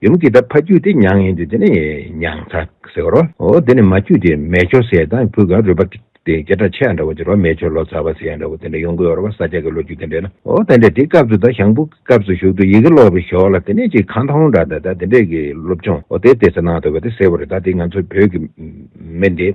ཡུམ་གྱི་ད་ཕ་རྒྱུད་དེ་མྱང་ཡིན་དུས་དེ་ནི་མྱང་ཚ་ཟེར་རོ། དེ་ནི་མ་རྒྱུད་དེ་མལ་ཁྱོར་ཟེར་དང་བུ་ག་རུས་པ་དེ་རྒྱ་ཁྲ་ཆད་འདྲ་བོ་དེ་རོ་མལ་ཁྱོར་ལོ་ཚ་བ་ཟེར་ཡང་འདྲ་བོ་དེ་འདྲ་ཡོང་གི་ཡོད་རོ་བ་ས་ཆ་གི་ལོ་རྒྱུས་དེ་འདྲ་ན་འོ་དེ་འདྲ་དེ་སྐབས་སུ་ད་ཞང་བུ་གི་སྐབས་སུ་བཞུགས་དུས་ཡི་གེ་ལོག་པའི་ཞོར་ལ་དེ་ནས་ཅིག་གང་ཐང་འོང་འདྲ་ད་ད་དེ་འདྲས་ཀྱི་སློབ་སྦྱོང་འོ་དེ་དེ་ཚ་ནང་དུ་བ་དེ་ཟེར་བ་རེད་ད་དེ་ང་ཚོ་བོད་ཀྱི་མི་འདི།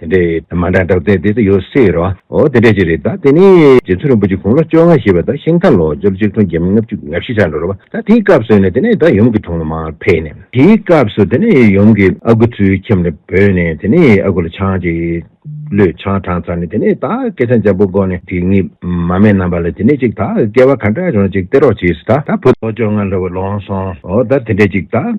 དེ་འདྲས་ཡོད་མ་འདྲ་འདྲ་བཙལ་ཏེ་དེ་ཡོད་སྲིད་རོ། འོ་དེ་འདྲས་ཅིག་རེད་ད་དེ་ནི་རྗེ་བཙུན་རིན་པོ་ཆེ་དགུང་ལོ་བཅོ་ལྔ་བཞེས་པ་ད་ཤིང་རྟ་ལོ་སྦྱོར་གཅིག་སྟོང་བརྒྱད་མ་ལྔ་བཅུ་ང་བཞི་ཆ་འགྲོ་རུ་བ་ད་དེའི་སྐབས་སུ་ནི་དེ་ནས་ད་ཡུམ་གྱི་དྲུང་ལ་མ་ཕེབས་ནས་དེའི་སྐབས་སུ་དེ་ནི་ཡུམ་གྱི་ཨ་ཁུ་ཚུལ་ཁྱིམ་ལ་བོས་ནས་དེ་ནི་ཨ་ཁུ་ལ་ཆང་གཅིག་བླུད་ཆང་དྲངས་ཚར་ནས་དེ་ནི་ད་སྐད་ཆ་འཇམ་པོ་སྒོ་ནས་དེ་གཉིས་མ་མེད་རྣམས་པ་ལ་དེ་ནི་ཅིག་ད་སྐལ་བ་ག་འདྲ་བྱུང་ཅིག་སྟེར་རོགས་བྱས་སུ་ད་ད་བུ། ལོ་བཅོ་ལྔ་ལོ་བ་ལོངས་སོང་འོ་ད་དེ་འདྲས་ཅིག་ད།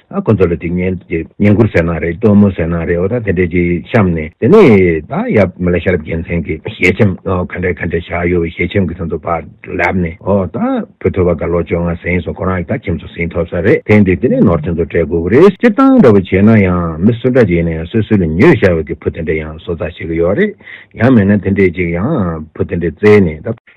ཨ་ཁོ་ཚོ་ལ་དྲིས་ཉན་གྱི་ཉན་ཁུར་ཟེར་ན་རེད་སྟོན་མོ་ཟེར་ན་རེད་འོ་ད་དེ་འདྲས་ཀྱིས་བཤམས་ནས་དེ་ནས་ད་ཡབ་མེ་ལ་ཤར་རྒྱལ་མཚན་གྱི་ཞལ་ཆེམ་ག་འདྲས་ག་འདྲས་བཞག་ཡོད་པའི་ཞལ་ཆེམ་གྱི་ཚོན་མདོ་པར་ལབ་ནས་འོ་ད་བུ་ཐོས་པ་དགའ་ལོ་ཅོག་ང་ཟིན་སོང་ཁོ་རང་གི་ད་ཁྱིམ་ཚོ་ཟིན་ཐོབ་ས་རེད་དེ་འདི་དེ་ནས་ནོར་ཆེན་ཚོ་སྤྲད་དགོས་ཀྱི་རེད་སྤྱིར་བཏང་འདྲ་པོ་བྱས་ན་ཡང་མི་སུ་འདྲ་ཅིག་ནས་སོས་སུས་ལ་ཉོས་བཞག་ཡོད་ཀྱི་བུ་དེ་འདྲས་ཡང་བཟོ་རྩ་བྱེད་ཀྱི་ཡོད་རེད་ཡང་མེད་ན་དེ་འདྲས་ཅིག་ཡང་བུ་དེ་འདྲས་བཙལ་ནས་ད།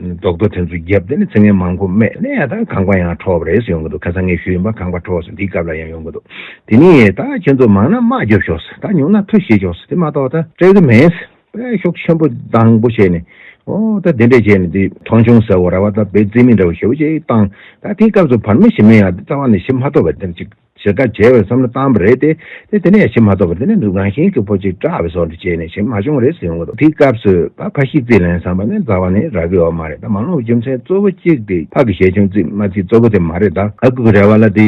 རྡོག་རྡོ་དེ་ཚོ་བརྒྱབ་སྟེ་ནི་ཚིག་ངན་མང་པོ་སྨྲས་ནས་ད་ཁང་པ་ཡང་འཕྲོག་རེས་ཡོང་གི་འདུག་ཁ་སང་ངས་ཞུས་ཡིན་པ་ཁང་པ་འཕྲོག་སོང་འདིའི་སྐབས་ལ་ཡང་ཡོང་གི་འདུག་དེ་ནི་ད་ཁྱེད་ཚོ་མང་ན་དམག་རྒྱབ་ཤོག་ཟེར་ད་ཉུང་ན་མཐུ་བཞེས་ཤོག་ཟེར་དེ་མ་གཏོགས་ད་སྤྲད་གི་མེད་ཟེར་པས་ཤོག་ཆེན་པོ་དང་པོ་བྱས་ནས་ཨོ་ད་དེ་འདྲས་བྱས་ནས་འདི་མཐོང་ཆུང་ཟེར་བོ་ར་བ་ད་བེ་རྩིས་མིན་འདྲ་བོ་ཞེ་བོ་ཅིག་བཏང་ད་དེའི་སྐབས་སུ་བར་མི་ཞིམ་མེད་ཡང་རྩ་བ་ནས་ཞིམ་མ་ཐོབ་པ་འདི་འདྲ་ཅིག། བྱེད་དཀའ་བྱེད་འོས་བསམ་བློ་བཏང་བ་རེད་དེ། དེ་དེ་ནས་ཡ་ཤིན་མ་ཐོབ་པར་དེ་ནས་འདུག་རང་བཞིན་གྱི་ཕོ་གཅིག་སྐྲ་བའི་སོག་འདི་བྱས་ནས་ཞེན་མ་བྱུང་བ་རེད་ཟེར་ཡོང་གི་འདུག་དེའི་སྐབས་སུ། ཕ་ཕ་ཤི་རྩིས་ལེན་བསམ་པ་ནི་རྫ་བ་ནི་ར་གི་འོ་མ་རེད་ད་མ་ལོངས་རྒྱུ་མཚན་གཙོ་བོ་གཅིག་དེ་ཕ་གི་ཞལ་ཆུང་རྩིས་མ་རྩིས་གཙོ་བོ་དེ་མ་རེད་ད། ཨ་ཁུ་གི་རེ་བ་ལ་དེ།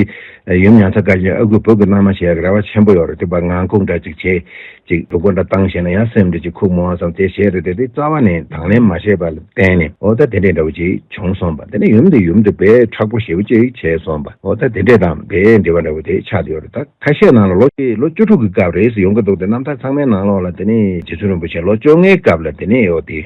ཡུམ་ཡང་ཚ་དཀའ་ཞིང་ཨ་ཁུའི་བུ་གི་སྣང་མ་བྱས་ཡག་གི་རེ་བ་ཆེན་པོ་ཡོད་རེད་དེ་བར་ངང་ཁུག་འདྲ་གཅིག་བྱས། ཅིག་སྡུག་པོ་འདྲ་བཏང་བཤད་ན་ཡང་སེམས་འདི་ཅི་ཁུག་མོ་བ་ཙམ་དེ་བཤད་དུ་དེ་དེ་རྩ་བ་ནས་དང་ལེན་མ་བྱས་པ་ལ་བརྟེན་ནས་འོ་ད་དེ་འདྲས་འདྲ་བོ་ཅིག་བྱུང་སོང་བ་དེ་ནས་ཡུམ་དེ་ཡུམ་དུ་འབད་ཁྲག་པོ་ཞེ་བོ་ཅིག་བྱས་སོང་བ་འོ་ད་དེ་འདྲས་དང་འབད་འབྲེལ་བ་འདྲ་བོ་དེ་ཆགས་ཡོད་རེད་ད་ཁ་ཤས་ནང་ལ་ལོ་བཅུ་དྲུག་གི་སྐབས་རེས་ཡོང་གི་འདུག་དེ་རྣམ་ཐར་ཚང་མའི་ནང་ལོགས་ལ་དེ་ནས་རྗེ་བཙུན་རིན་པོ་ཆེ་ལོ་བཅོ་ལྔའི་སྐབས་ལ་དེ་ནས་ཡོད་དེ།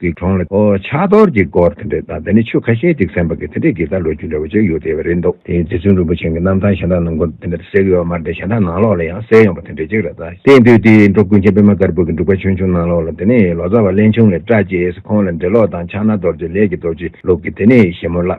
གི་གྲོང་ལ། ཕྱག་རྡོར་གྱི་སྐོར་དེ་འདྲས་དང་དེ་ནས་ཆོས་ཁ་ཤས་ཅིག་གསན་པ་གི་དེ་འདྲས་གི་ད་ལོ་རྒྱུ་འདྲ་བོ་ཅིག་ཡོད་དེ་བས་རེད་འདུག་དེ་རྗེ་བཙུན་རིན་པོ་ཆེན་གི་རྣམ་ཐང་གཞན་དག་ནང་སྐོར་དེ་འདྲས་གསལ་གི་ཡོད་མར་དེ་གཞན་དག་ནང་ལོགས་ལ་ཡང་གསལ་ཡོང་པ་དེ་འདྲས་ཅིག་རེད་ད་དེ་དུས་དེའི་འགྲོ་ཀུན་མཁྱེན་པདྨ་དཀར་པོ་གི་འབྲུག་པ་ཆུང་ཆུང་ནང་ལོགས་ལ་དེ་ནས་ལོ་ཙཱ་བ་གླེན་ཆུང་ལས་བཀྲ་རྒྱས་སི་ཁོང་ལ་འབྲེལ་ལོགས་དང་ཕྱག་ན་རྡོར་གྱི་ལས་ཀི་རྡོ་རྗེ་ལུགས་གི་དེ་ནས་ཞེ་མོ་བླ།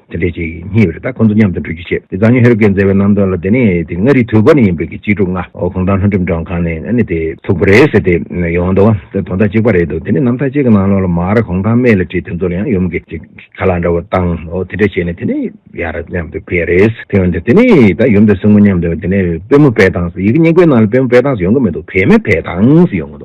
དེ་འདྲའི་ཆེས་སྙིང་བའི་རི་དྭགས་ཁོ་ཚོ་མཉམ་དུ་འགྲུལ་སྐྱོད་བྱེད་དེ་ཛྭ་ཉི་ཧེ་རུ་ཀའི་མཛེས་པའི་རྣམ་རྟོག་ལ་དེ་ནི་དེ་མངའ་རིས་དུས་བབ་ནས་ཡིན་པའི་གཅེས་ཕྲུག་ལྔ་གུང་ཐང་ལྷོ་འགྲེམས་གྲོང་ཁང་ནས་ཨ་ནི་དེ་ཚུགས་པ་རེད་ཟེར་ཏེ་ཡོང་འདུག་དོན་དག་གཅིག་པ་རེད་འདུག་དེ་ནི་ནམ་ཐག་གཅིག་གི་ནང་ལོགས་ལ་མར་གུང་ཐང་མེ་ལ་བྲིས་དེ་ཚོ་ལ་ཡང་ཡུམ་གྱི་ཁ་ལག་འདྲ་བོ་བཏང་དེ་འདྲ་བྱས་ནས་དེ་ནི་ཡར་མཉམ་དུ་བས་རེད་དེ་ཡོང་དེ་དེ་ནི་ད་ཡུམ་དང་སྲིང་མོ་མཉམ་དུ་ཡོང་དེ་ནི་དཔོན་མོ་བས་དང་ཡི་གེ་སྙིང་པོའི་ནང་ལ་དཔོན་མོ་བས་དང་ཡོང་གི་མི་འདུག་བས་མེད་བས་དང་ཡོང་གི་འདུག།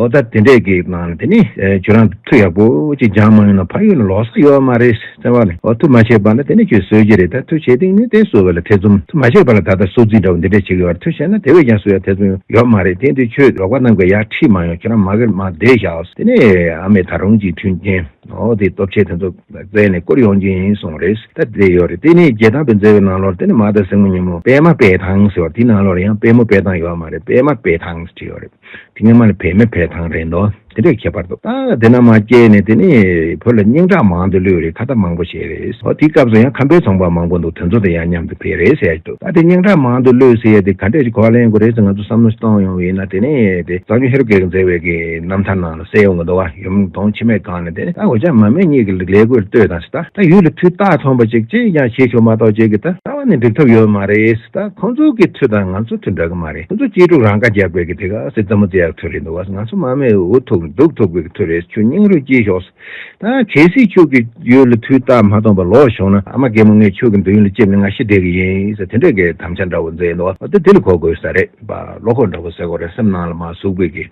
ཨོ་ད་དེ་འདྲས་ཀྱི་ནང་ལ་དེ་ནི་ཁྱོད་རང་མཐུ་ཡག་པོ་གཅིག་སྦྱང་མ་མྱོང་ན་ཕ་ཡུལ་ལ་ལོག་ས་ཡོད་མ་རེད་ཟེར་བ་ལས་མཐུ་མ་བྱས་པ་ན་དེ་ནི་ཁྱོད་སོས་ཀྱི་རེད་ད་མཐུ་བྱས་དེང་ནས་དེ་སོས་བ་ལ་ཐེ་ཚོམ་མཐུ་མ་བྱས་པ་ལ་ད་ལྟ་སོ་རྩིས་འདྲ་བོ་འདི་འདྲས་བྱེད་ཀྱི་ཡོད་རེད་མཐུ་བྱས་ན་དེ་བས་ཀྱང་སོས་ཡ་ཐེ་ཚོམ་ཡོད་མ་རེད་དེང་དུས་ཁྱོད་ལོག་པ་རྣམས་ཀྱི་ཡ་ཁྲིད་མ་ཡོང་ཁྱོད་རང་མ་གིར་མ་བསྡད་བཞག་དེ་ནས་ཨ་མས་ད་རུང་གཅིག་མཐུན་རྐྱེན་ཨོ་དེའི་སྟོབས་ཆེ་དེ་ཚོ་བཙལ་ནས་བསྐུར་ཡོང་རྒྱུ་ཡིན་གསུངས་བ་རེད་ད་དེ་ཡོད་རེད་དེ་ནི་རྒྱལ་ཐང་པའི་མཛེས་བའི་ནང་ལོར་དེ་ནི་མ་དང་སྲིང་མོ་གཉིས་མོ་པད་མ་པད་ཐང་ཟེར་བ་དེའི་ནང་ལོར་ཡང་པད་མོ་པད་ཐང་ཡོད་མ་རེད་པད་མ་པད་ཐང་ཟེར་གྱི་ཡོད་རེད། དེ་སྔ་མ་ལ་བས་མི་བས་ཐང་རེད་འདུག་དེ་འདྲའི་ཁྱད་པར་འདུག་ད་དེ་ན་མ་སྐྱེས་ནས་དེ་ནས་བོད་ལ་སྙིང་ཁྲག་མང་དུ་ལུས་རེད་ཁ་བརྡ་མང་པོ་བྱས་རེད་ཨོ་དེའི་སྐབས་སུ་ཡང་ཁམས་པའི་ཚོང་པ་མང་པོ་འདུག་དེ་ཚོ་དང་ཡང་མཉམ་དུ་བས་རེད་ཟེར་འདུག་ད་དེ་སྙིང་ཁྲག་མང་དུ་ལུས་ཟེར་ཡ་དེ་ག་འདྲས་ཀྱི་གོ་ལ་ཡིན་དགོས་རེད་ཟེར་ང་ཚོ་བསམ་བློ་གཏོང་ཡོང་བས་ན་དེ་ནས་དེ་བཟང་སྤྱོད་ཧེ་རུ་ཀའི་མཛད་འོས་ཀྱི་རྣམ་ཐར་ནང་ལ་གསལ་ཡོང་གི་འདུག་བ་ཡུམ་གདོང་འཆི་མེད་གང་ནས་དེ་ནས་ད་འོ་ཅག་མ་སྨད་གཉིས་ཀྱི་ལས་གོས་ལྟོས་དང་ད་ད་ཡུལ་ལ་འཕྲུལ་རྟ་ཐོན་པ་ཅིག་ཅིས་ཀྱང་བྱེད་ཆོག་མ་གཏོགས་བྱེད་ཀྱི་ད་ད་བ་ནས་འགྲིག་ཐབས་ཡོད་མ་རེད་ད་ཁོང་ཚོ་གི་མཐུ་དང་ང་ཚོ་མཐུ་འདྲ་གི་མ་རེད། ཁྱོད་ཚོ་གཅེས་ཕྲུག་རང་ཁ་རྒྱག་དགོས་ཀྱི་འདུག་ག་སེ་ཙམ་མོ་རྩེ་ཡག་ཐོད་རེད་འདུག་བ་ང་ཚོ་མ་མེད་འུ་ཐུག་འདུག་ཐུག་དགོས་ཀྱི་ཐོད་རེད་ཁྱོད་སྙིང་རུས་བསྐྱིལ་ཞོག་ཟེར་ད་གལ་སྲིད་ཁྱོད་ཀྱི་ཡུལ་ལ་དུས་རྟགས་མ་སྟོང་པར་ལོག་བྱུང་ན་ཨ་མ་རྒན་མོ་ངས་ཁྱོད་ཀྱི་འདོད་ཡོན་ལ་ལྕེབས་ནས་ང་ཤི་བསྡད་ཀྱི་ཡིན་ཟེར་དེ་འདྲ་གི་དམ་བཅའ་འདྲ་བོ་མཛད་འདུག་བ་ད་དེ་ལ་གོ་དགོས་ས་རེད་བ་ལོ་ཁོག་འདྲ་བོ་ཟེར་གོ་རེ་སེམས་ནང་ལ་མ་ཟུག་དགོས་ཀྱི།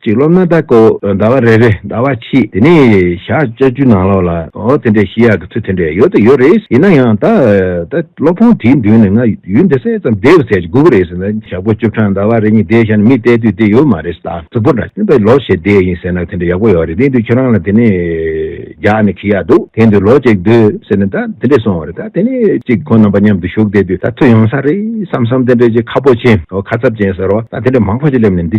གཅིག་ལོ་ན་ཟླ་ཀོ་བོ་ཟླ་བ་རེ་རེ་ཟླ་བ་ཕྱིས་དེ་ནས་ཞག་བཅོ་བཅུ་ནང་ལོགས་ལ་ཨོ་དེ་འདྲའི་ཤི་ཡག་གི་ཚུལ་དེ་འདྲ་ཡོད་དོ་ཡོད་རེད་ཡིན་ན་ཡང་ད་ད་སློབ་ཁང་དེའི་མདུན་ནས་ང་ཡུན་འདི་གསལ་ཙམ་བསྡད་ཟེར་དགོས་ཀྱི་རེད་ཟེར་ན་ཞག་པོ་བཅུ་ཕྲག་ཟླ་བ་རེ་གཉིས་བསྡད་ཤར་ནས་མི་བལྟས་དུས་དེ་ཡོད་མ་རེད་ད་གཟུགས་པོ་འདྲ་བཞིན་པའི་ལོ་ཞིག་བསྡད་ཡིན་ཟེར་ན་དེ་འདྲ་ཡག་པོ་ཡོད་རེད་དེ་དུས་ཁྱེད་རང་ལ་དེ་ནས་རྒྱག་ནས་ཁི་ཡག་འདུག་དེ་འདུག་ལོ་གཅིག་སྡོད་ཟེར་ནས་ད་དེ་འདྲས་སོང་བ་རེད་ད་དེ་ནས་གཅིག་ཁོང་རྣམ་པ་མཉམ་དུ་བཞུགས་བསྡད་དུས་ད་ཚོད་ཡོང་ས་རེད་བསམ་བསམ་དེ་འདྲས་ཀྱི་ཁ་ཕོ་ཆེ་ཨོ་ཁ་ཚབ་ཅན་ཟེར་བ་ད་དེ་འདྲས་མང་པོ་ཞིག་སླེབས་ནས་འདི་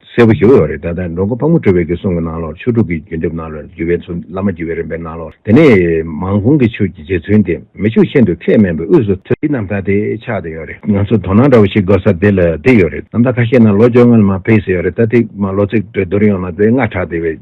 གསལ་པོ་ཞུ་འོས་རེད་ད་ལྟ་འགྲོ་མགོ་ཕག་མོ་གྲོལ་བའི་དགེ་སོང་གི་ནང་ལོགས་ཆོས་དྲུག་གི་བརྒྱུད་འདེབས་ནང་ལོགས་རྒྱུད་པའི་ཚུལ་བླ་མ་རྒྱུད་པའི་རིམ་པའི་ནང་ལོགས་དེ་ནས་མང་གོང་གི་ཆོས་ཀྱི་རྗེ་བཙུན་དེ་མི་ཕྱུགས་ཤིན་ཏུ་ཁས་དམན་པའི་དབུས་སུ་ཐོན། འདི་རྣམ་ཐར་དེ་ཆགས་ཏེ་ཡོད་རེད་ང་ཚོ་དོ་སྣང་འདྲ་བོ་ཞིག་དགོས་ས་དེ་ལ་དེ་ཡོད་རེད་རྣམ་ཐར་ཁ་ཤས་ནང་ལོ་བཅོ་ལྔ་ལ་མ་ཕེབས་ས་ཡོད་རེད་ད་ཐེངས་མ་ལོ་ཚིགས་བགྲོས་བསྡུར་ཡོང་ན་དེ་སྔ་དྲགས་དེ་བས།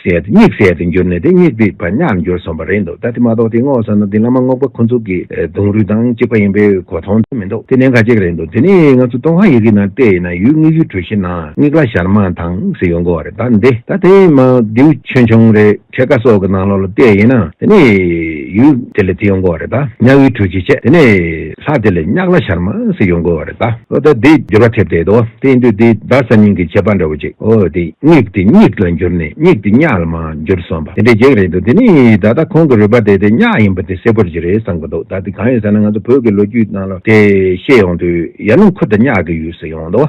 ཟད་དེ་སྙིགས་ཟད་དུ་འགྱུར་ནས་དེ་སྙིགས་དེ་བར་ཉག་འགྱུར་སོང་བ་རེད་འདུག་ད་དེ་མ་གཏོགས་དེ་བསྔོག་བསམ་ན་དེ་སྔ་མ་བསྔོག་པ་ཁོ་ཚོ་གི་གདུང་རུས་དང་གཅིག་པ་ཡིན་པའི་གོ་མཐོང་ཚོད་མི་འདུག་དེ་ནས་འགའ་གཅིག་རེད་འདུག་དེ་ནི་ང་ཚོ་ཀྲུང་ཧྭ་ཡི་གེའི་ནང་བལྟས་ཡིན་ན་ཡུལ་དངོས་ཡུལ་གྲུ་བཞི་ནང་དངིགས་ལ་ཞར་མ་དང་ཟེར་ཡོང་གི་བ་རེད་ད་འདི་ད་དེ་མ་རྡེའུ་ཆུང་ཆུང་རེ་ཁྲེ་ཀ་སོགས་ཀི་ནང་ལོག་ལ་བལྟས་ཡིན་ན་དེ་ནི་ཡུལ་དེ་ལས་དེ་ཡོང་གི་བ་རེད་ད་ཉག་ཡུལ་གྲུ་བཞི་བྱས་དེ་ནི། ལྷ་དེ་ལས་གཉགས་ལ་ཤར་མ་ཟིག་ཡོང་དགོས་བ་རེད་ད། ཨོ་ད་དེ་འགྱུར་བ་ཐེབས་བསྡད་དོ་དེ་ཡིན་དུས་དེ་ད་གཟའ་སྙིང་གི་བྱེད་པ་འདྲ་བོ་ཅིག་ཨོ་དེ་གཉིག་དེ་གཉིག་ལ་འགྱུར་ནས་གཉིག་དེ་གཉགས་ལ་མ་འགྱུར་སོང་བ་དེ་འདྲའི་གེགས་རེད་འདུག་དེ་ནས་ད་ལྟ་ཁོང་གི་རུས་པ་དེ་དེ་གཉགས་ཡིན་པ་དེ་གསལ་པོར་གྱི་རེད་བསམ་གི་འདུག་ད་དེ་གང་ཡོད་ཟེར་ན་ང་ཚོ་བོད་ཀྱི་ལོ་རྒྱུས་ནང་ལ་དེ་ཤེས་ཡོང་དུས་ཡར་ཀླུང་ཁུ་དང་གཉགས་ཀྱི་ཡུལ་ཟེར་ཡོང་དོ།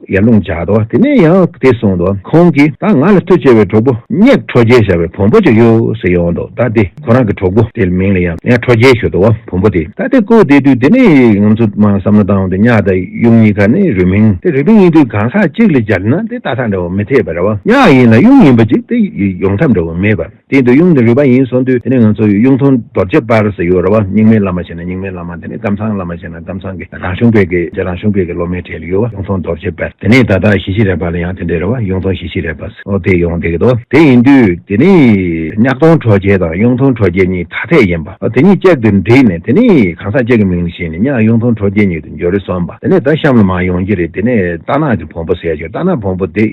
ཡར་ལུང་བརྒྱག་ཏོ། དེ་ནས་ཡང་དེ་སོང་ཏོ། ཁོང་གིས་ད་ང་ལ་མཐུ་ཆེ་བའི་གྲོགས་པོ་གཉེར་ཁྲོ་རྒྱལ་བྱ་བའི་བོང་བུ་ཅིག་ཡོད་ཟེར་ཡོང་ཏོ་ད་དེ་ཁོ་རང་གི་གྲོགས་པོ་དེའི་མིང་ལ་ཡང་ཁྲོ་རྒྱལ་ཞུ་ཏོ་བོང་བུ་དེ་ད་དེ་བཀོལ་བསྡད་དུས་དེ་ནས་ང་ཚོ་མང་བསམ་བློ་བཏང་སྟེ་གཉགས་དང་གཡུ་གཉིས་ཀ་ནི་རུས་མིང་སྟེ་རུས་པའི་གཉིས་དུས་གང་ཟག་གཅིག་ལས་སྦྱར་ན་དེ་ད་ཐག་འདྲ་བ་མི་འཐད་པས་ར་བ་གཉགས་ཡིན་ལ་གཡུ་ཡིན་པ་ཅིག་དེ་ཡོང་ཐབས་འདྲ་བ་མེད་པས། དེ་འདོད་ཡོངས་ནི་རུས་པ་ཡིན་གསུངས་དུས་དེ་ནི་ང་ཚོ་ཡི་གཡུང་དྲུང་རྡོ་རྗེ་སྤར་ཟེར་ཡོད་རེད་བ་རྙིང་མའི་བླ་མ་ཞེས་ན་རྙིང་མའི་བླ་མ་དེ་ནི་ཀམ་ཚང་བླ་མ་ཞེས་ན་ཀམ་ཚང་གི་རང་གཞུང་བོད་ཀྱི་རྗེ་རང་གཞུང་བོད་ཀྱི་སློབ་མའི་གྲས་ལ་ཡོད་བ་གཡུང་དྲུང་རྡོ་རྗེ་སྤར་དེ་ནས་ད་ལྟ་ཞི་ཞི་རས་པ་ལ་ཡང་དེ་འདྲའི་རེད་བ་གཡུང་དྲུང་ཞི་ཞི་རས་པ་སོགས་དེ་ཡོང་བསྡད་ཀྱི་འདུག་དེ་ཡིན་དུས་དེ་ནི་གཉགས་སྟོང་གྲོ་རྒྱལ་དང་གཡུང་དྲུང་གྲོ་རྒྱལ་གཉིས་ཐ་དད་ཡིན་པ་དེ་གཉིས་གཅིག་ཏུ་འདྲིས་ནས་དེ་ནི་གང་ཟག་གཅིག་གི་མིང་ལ་བཞེངས་ནས་གཉགས་གཡུང་དྲུང་གྲོ་རྒྱལ་གཉིས་དུ་འགྱུར་རེད་གསུངས་པ་དེ་ནས་ད་གཤམ་ལ་མ་ཡོང་གྱི་རེད་དེ་ནས་རྟ་ནག་གི་བོང་བུ་ཟེར་ཞིང་རྟ་ནག་བོང་བུ་དེ་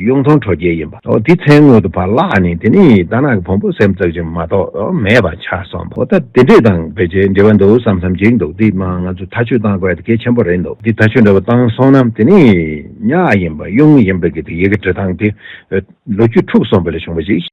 གཡུང་དྲུང་གྲོ་རྒྱལ་ཡིན་པ། དེའི་མཚན་སྔོན་དུ་བ་ལགས་ནས་དེ་ནི་རྟ་ནག་གི་བོང་བུ་སེམས་བརྩེགས་ཅན་མ་གཏོགས་མེད་པ་ཆ་སོང་བོ་ད་དེ་འདྲས་དང་བེད་སྤྱད་འབྲེལ་བ་འདུག་བསམ་བསམ་གཅིག་འདུག་འདི་མང་ང་ཚོས་ཐག་ཆོད་བཏང་དགོས་ཡ་དེ་གལ་ཆེན་པོ་རེད་འདུག་འདི་ཐག་ཆོད་འདྲ་བོ་བཏང་སོང་ན་དེ་ནི་ཉག་ཡིན་པ་གཡུང་ཡིན་པ་གི་དེ་ཡི་གི་འབྲེལ་སྟངས་དེ་ལོ་རྒྱུས་འཁྲུགས་སོང་བ་ལས་བྱུང་བ་ཞིག།